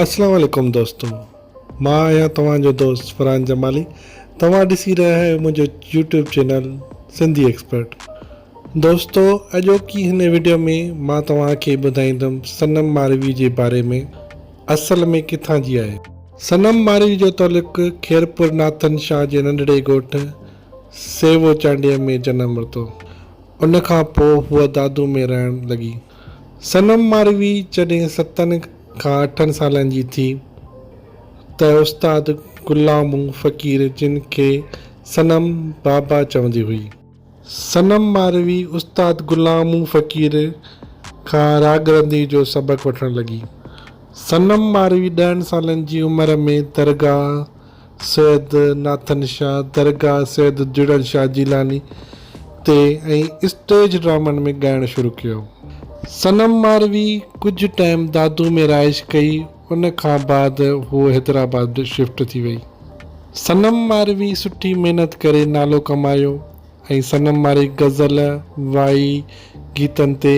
اسلام عليڪم دوستو مان آهيان توهان جو دوست فرحان جمالي توهان ڏسي رهيا آهيو منهنجو يوٽيوب چينل سنڌي ايڪسپرٽ دوستو اڄوڪي هن ويڊيو ۾ مان توهان کي ٻڌائيندم صنم ماروي جي باري ۾ اصل ۾ ڪٿان جي آهي صنم ماروي جو تعلق خيرپور ناٿن شاهه جي ننڍڙي ڳوٺ سيوو چانڊيي ۾ جنم ورتو ان کان پوء هوء دادو ۾ رهڻ لڳي. صنم ماروي جڏهن ستن کان اٺن سالن جي ٿي ته استاد غلامو فقير جن کي صنم بابا چوندي هئي. صنم ماروي استاد غلامو فقير کان راڳ رندي جو سبق وٺڻ لڳي. صنم ماروي ڏهن سالن جي عمر ۾ درگاهه. سيد ناٿن شاهه، درگاهه سيد جڙن شاهه جيلاني تي ۽ اسٽيج ڊرامن ۾ ڳائڻ شروع ڪيو. صنم ماروي ڪجهه ٽائيم دادو ۾ رهائش ڪئي ان کان بعد هوء حيدرآباد شفٽ ٿي وئي. صنم ماروي سٺي محنت ڪري نالو ڪمايو ۽ صنم ماروي غزل، وائي گيتن تي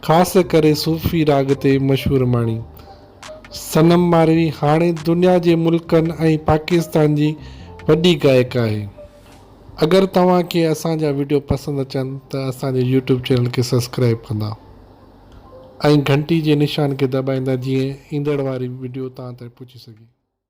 خاص ڪري صوفي راڳ تي مشهور ماڻي. صنم ماروي هاڻي دنيا جي ملڪن ۽ پاڪستان جي وڏي گائڪ آهي اگر توهان کي اسان جا ويڊيو پسند اچن ته اسان جي يوٽيوب چينل کي سبسڪرائب ڪندا ۽ گهنٽي جي نشان کي دٻائيندا جيئن ايندڙ واري ويڊيو توهان تائين پهچي سگهي.